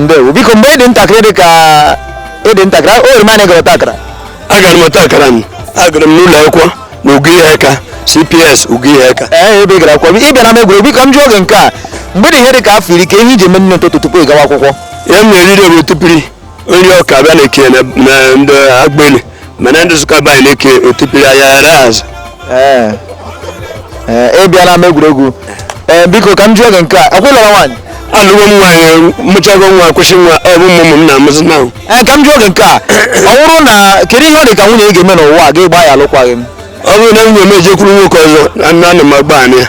ndewo biko mgbe ị dị ntakịrị dị ka ị dị ntakịrị o nwere mgbe ị gara ọta akara agara m ọta akara m agara m n'ụlọ akwụkwọ na Ugo Iheaka cps Ugo Iheaka ee ebe ị gara akwụkwọ ị bịa n'ama egwuregwu biko m jụọ gị nke a mgbe ị dị ihe dị ka afọ iri ke ihe i ji eme n'ụtụtụ tupu ị gawa akwụkwọ ihe m na-eriri bụ otipiri nri ọka a bịa na-eke na na ndị agbeli mana ndị Nsụka be anyị na-eke otipiri anya ghara azụ Ee. Ee, ị bịa n'ama egwuregwu ee biko ka m jụọ gị nke a ọkwa ị lụrụ nwaanyị alụgo m nwaanyị mụchago nwa kwụsị nwa ọ bụ ụmụ m na-amụzi na ee ka m jụọ gị nke a ọ bụrụ na kedu ihe ọ dị ka nwunye gị ga-eme n'ụwa a ị ga-agba ya alụkwaghị m ọ bụrụ na nwunye m ejekwuru nwoke ọzọ ana m agba anyị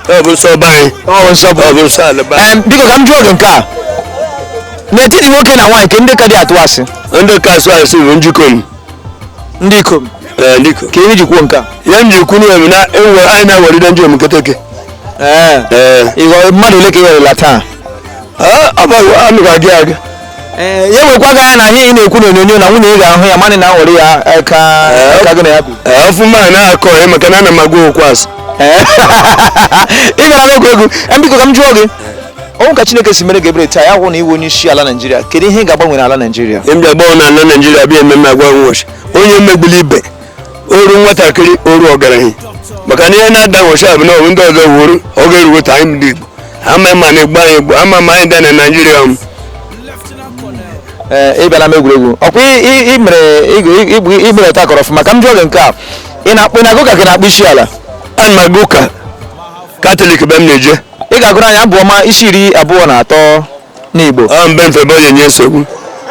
ọ bụ nsọ be anyị ọ bụ nsọ ọ bụ nsọ ala be anyị Em, biko ka m jụọ gị nke a n'etiti nwoke na nwaanyị ke ndị ka atụ asị ndị ka asụ asị bụ ndị ikom ndị ikom ee ndị ikom ke ihe i ji kwuo nke a ihe m ji kwuru ya bụ na onwe anyị na-aghọride ndị omeketeke ee ee ịghọ- mmadụ ole ka ị ghọrịla taa ọ bụ amị ga-aga aga ee ya wekwa gị anya na ihe ị na-ekwu n'onyonyo na nwunye gị ga-ahụ ya mana ị na-aghọrị ya eh, ka Ee. ka gị na ya bi ee ọfụma a na-akọ ya maka na ana m agwa okwu asị Ee. ị bịara egwuregwu Em, biko ka m jụọ gị ọ wụ ka chineke si mere gị ebere taa ya wụ na ị wụ onye isi ala naijiria kedu ihe ị ga-agbanwe n'ala naijiria m ga-agbanwe n'ala naijiria bịa ememe agwa nwọshịa onye emegbule ibe o ru nwatakịrị o ru ọgaranya maka na ihe na-ada nwọshịa bụ na ọ bụ ndị ọzọ wuru ọ ga-eruwete anyị ndị Igbo ama ma na-egbu anyị egbu ama ma anyị dị na Naịjirịa m ee ị bịa n'ama egwuregwu ọkwa ị- ị- ị mere ị- ị- ị- ị mere ọta akara ọfụma ka m jụọ gị nke a ị na-akpọ ị na-aga ụka ka ị na-akpọ isi ala ana m aga ụka katọlik be m na-eje ị ga-agụrụ anyị abụ ọma isi iri abụọ na atọ n'Igbo ọ mbe mfebe onye nye nsogbu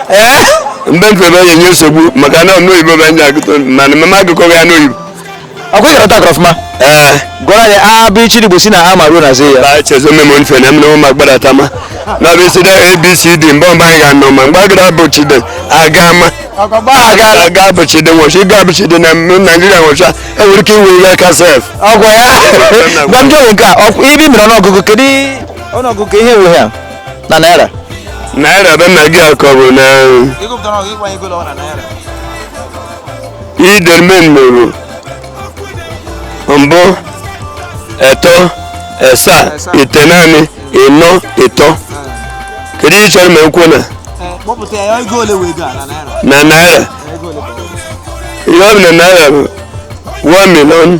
ee mbe mfebe onye nye nsogbu maka na ọ n'oyibo bụ ndị agụtọ mana m ama agụkọ ya n'oyibo ọkwa ị gara ọta akara ọfụma ee gụọrọ anyị abịịchịị igbo si na a ma ruo na z ya ba chezo memo nfe na mmewo ma gbara tama na bụ isi da abcd mgbe mgbe anyị ga-anọ ma mgbe agara bụ chide aga ma aga aga bụ chide nwọshịa ịga bụ chide na m- naijiria nwọshịa enwere ike iwe ihe aka sef ọgwụ ya gwa m jụọ nke a ọkwa ị ị mere ọnụọgụgụ kedu ọnụọgụgụ ka ihe wee ya na naira naira be na gị akọ bụ na idermen mụrụ mbụ eto esa itenaanị ịnọ ịtọ kedu ihe ị chọrọ ma ekwu na na naira ihe ọ bụ na naira bụ 1 million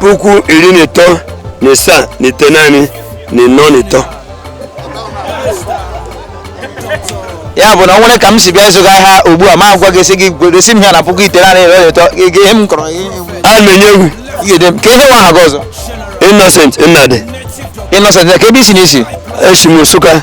puku iri na ịtọ na ịsaa na itenaanị na ịnọ na ịtọ ya bụ na ọ nwere ka m si bịa ịzụga ahịa ugbu a ma agwa gị sị gị gosi m ya na puku iri na ịtọ gị ihe m kọrọ gị a na-enye egwu ị ga-ede m kee ihe wụ aha gị ọzọ innocent nnadị innocent kee ebe i si na isi esi m nsụka